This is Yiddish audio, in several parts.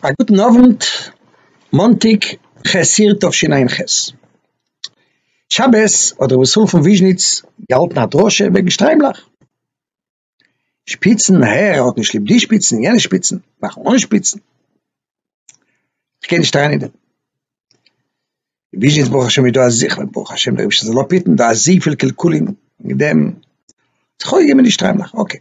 א גוטן אוונט, מאנטאג כ' אייר תשע ע ח, שבת האט רבי ישראל פון וויזשניץ געהאלטן א דרשה וועגן שטריימלעך, שפיצן, הער ער האט נישט ליב די שפיצן, יענע שפיצן, מאכן אן שפיצן, כ'גיי נישט אריין אין דעם, אין וויזשניץ ברוך השם איז דא אזויפיל, ברוך השם דער אייבערשטער זאל אפיטן, דא אזויפיל קלקולים מיט דעם, זיך אויסגעגעבן מיט די שטריימלעך, אקעי.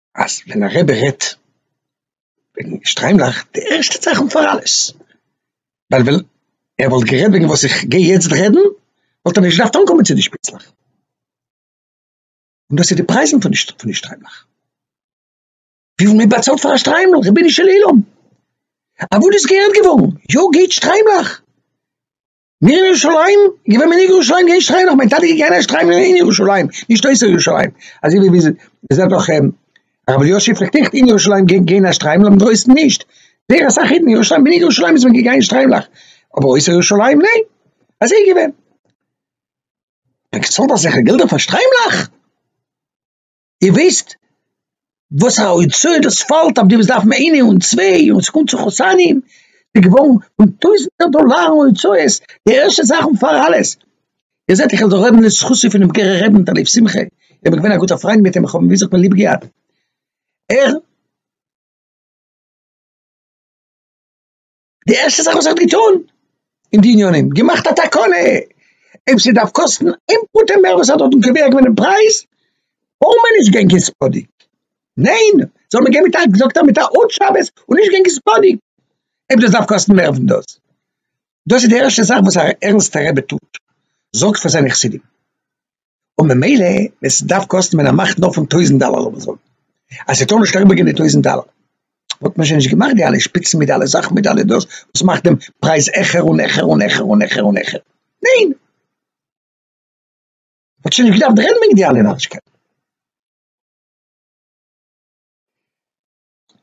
אז ווען א רבי רעדט וועגן שטריימלעך, די ערשטע צייכן פאר אלעס, ווייל ווען ער וואלט גערעדט וועגן וואס איך גיי יעצט רעדן, וואלט ער נישט געדארפט אנקומען צו די שפיצלעך. און דאס איז די פרייזן פון די שטריימלעך. וויפיל מען באצאלט פאר א שטריימל, רבונו של עולם! אוואו דאס געהערט געווארן, יא געבט שטריימלעך! מיר אין ירושלים, געווען מען אין ירושלים געהערשט שטריימל, נאך מיין טאטע איז געהערשט שטריימל אין ירושלים, נישט אויסער ירושלים, אזוי ווי מיר זעט דאך הרב אלישיב פלעגט אויך אין ירושלים גיין גיין א שטריימל אבער אינדרויסן נישט, זייער אסאך אידן אין ירושלים אין ירושלים איז מען געגאנגען שטריימלעך, אבער אויסער ירושלים ניין, אזוי איז געווען. מען האט געצאלט אזעלכע געלטער פאר שטריימלעך? איר וויסט וואס א הוצאה דאס פאלט אויף די וואס דארפן איינער און צוויי און ס'קומט צו חתנים, ס'איז געווארן פון טויזנטער דאלארן הוצאות, די ערשטע זאך און פאר אלעס, איר זעט איך זאל רעדן לזכותו פונעם גערער רעבע מיט א לב שמחה, איך בין געווען א גוטער פריינד מיט אים, איך האב אים ווי זאגט מען ליב געהאט, ער. די ערשטע זאך וואס ער האט געטון אין די עניינים געמאכט א תקנה אויב ס'דארף קאסטן איין פרוטה מער וואס ער האט דארטן קובע געווען דעם פרייז טאר מען נישט גיין קעספאדיג ניין זאל מען גיין מיט א זאגט ער מיט א עוד שבת און נישט גיין קעספאדיג אויב דאס דארף קאסטן מער פון דאס דאס איז די ערשטע זאך וואס א ערנסטע רבי טוט זאגט פאר זיינע חסידים. און ממילא ווען ס'דארף קאסטן מען א מאכט נאר פון טויזנט דאלער לאמיר זאגן אז ס'טאר נישט אריבער גיין די טויזנט דאלער וואלט מען שוין נישט געמאכט די אלע שפיצן מיט די אלע זאכן מיט די אלע דאס וואס מאכט דעם פרייז העכער און העכער און העכער און העכער און העכער ניין! מ'האט שוין נישט געדארפט רעדן וועגן די אלע נארישקייטן.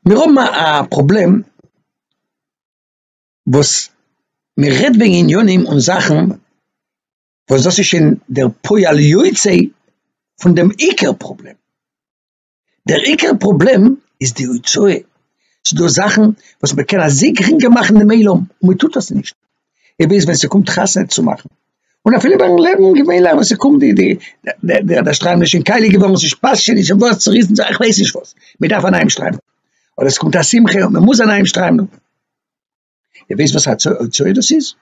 מיר האבן א פראבלעם וואס מ'רעדט וועגן עניינים און זאכן וואס דאס איז שוין דער פועל יוצא פון דעם עיקר פראבלעם. דער עיקר פראבלעם איז די הוצאה. ס'דא זאכן וואס מען קען אזוי גרינגער מאכן דעם עולם, און מען טוט עס נישט. און ביז ווען ס'קומט חתונה צו מאכן, און אפילו ביים לעבן געווענליך ווען ס'קומט די די די די שטריימל איז שוין קייליג געווארן, ס'פאסט שוין נישט, ס'ווארט צוריסן, איך ווייס נישט וואס, מען דארף א נייעם שטריימל. אדער ס'קומט א שמחה און מען מוז א נייעם שטריימל. איר ווייסט וואס א צואה דאס איז?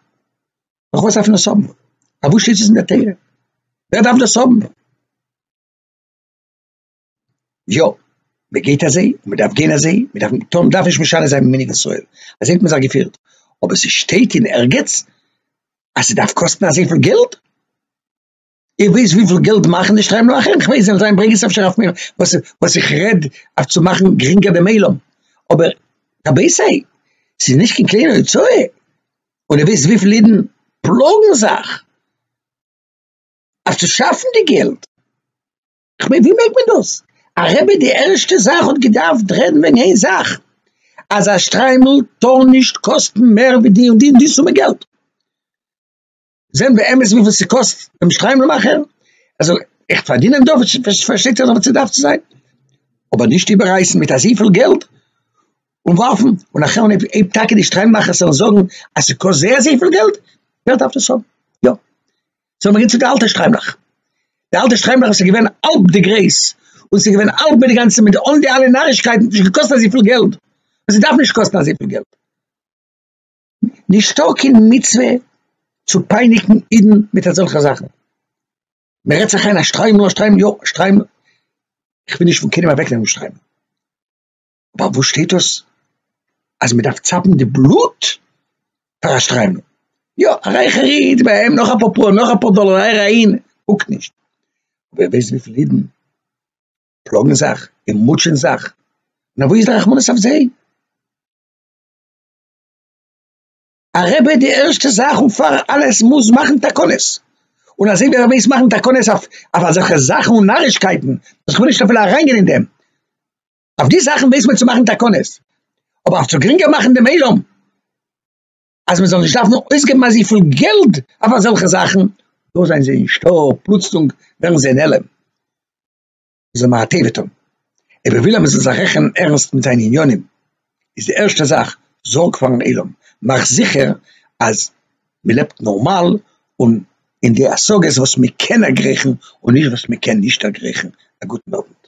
נאך וואס דארף מען דאס האבן? פאר וואס שטייט עס אין דער תורה? ווער דארף דאס האבן? יא, מען גייט אזוי, מען דארף גיין אזוי, מען דארף טון, מען דארף נישט משנה זיין מיני ישראל, אזוי האט מען זיך געפירט, אבער ס'שטייט אין ערגעץ אז ס'דארף קאסטן אזויפיל געלט? איך ווייס וויפיל געלט מאכן די שטריימל אויך איך ווייס זיי ברענגען עס אפשר אויף מיר וואס וואס איך רעד אויף צו מאכן גרינגער דעם עולם אבער רבי זיי ס'איז נישט קיין קליינע הוצאה און איך ווייס וויפיל אידן פלאגן זיך אויף צו שאפן די געלט איך מיין ווי מעג מען דאס א רבי די ערשטע זאך האט געדארפט רעדן וועגן איין זאך אז א שטריימל טאר נישט קאסטן מער ווי די און די און די סומע געלט. זען באמת וויפיל ס'קאסט דעם שטריימל מאכער, ער זאל עכט פארדינען דא, פארשטייט זיך דאך וואס ס'דארף צו זיין, אבער נישט איבעררייסן מיט אזויפיל געלט און ווארפן, און נאכדעם ווען אויב טאקע די שטריימל מאכערס וועלן זאגן אז ס'קאסט זייער זייער פיל געלט, ווער דארף דאס האבן? יא, זאל מען גיין צו די אלטע שטריימלעך, די אלטע שטריימלעך וואס איז געווען האלב די גרייס, און ס'איז געווען האלב מיט די גאנצע מיט אן די אלע נארישקייטן, האט נישט געקאסט אזויפיל געלט, און ס'דארף נישט קאסטן אזויפיל געלט. נישטא קיין מצוה צו פייניגן אידן מיט אזעלכע זאכן, מען רעדט זיך איין אז שטריימל אז שטריימל יא שטריימל, איך וויל נישט פון קיינעם אוועק נעמען שטריימל, אבער וואו שטייט דאס אז מען דארף צאפן די בלוט פאר א שטריימל, יא א רייכער איד ביי אים נאך אפאר פאר נאך אפאר דאלער אהער אהין קוקט נישט, ווער ווייסט וויפיל אידן פלאגן זיך און מוטשען זיך, נו וואו איז די רחמנות אויף זיי? א רבי די ערשטע זאך און פאר אלעס מוז מאכן תקנות, און אזוי ווי ער מוז מאכן תקנות אויף אזעלכע זאכן און נארישקייטן, וואס כ'וויל נישט אפילו אריינגיין אין דעם, אויף די זאכן מוז מען צו מאכן תקנות, אבער אויף צו גרינגער מאכן דעם עולם, אז מען זאל נישט דארפן אויסגעבן אזויפיל געלד אויף אזעלכע זאכן, דא זענען זיי נישטא, פלוצלונג ווערן זיי נעלם. זאל מען א טבת האבן, אויב ער וויל אז מען זאל זיך רעכענען ערנסט מיט זיינע עניינים, איז די ערשטע זאך, זארג פארן עולם, מאך זיכער אז מען לעבט נארמאל און אין די השגות וואס מען קען דערגרייכן און נישט וואס מען קען נישט דערגרייכן, א גוטן אוונט.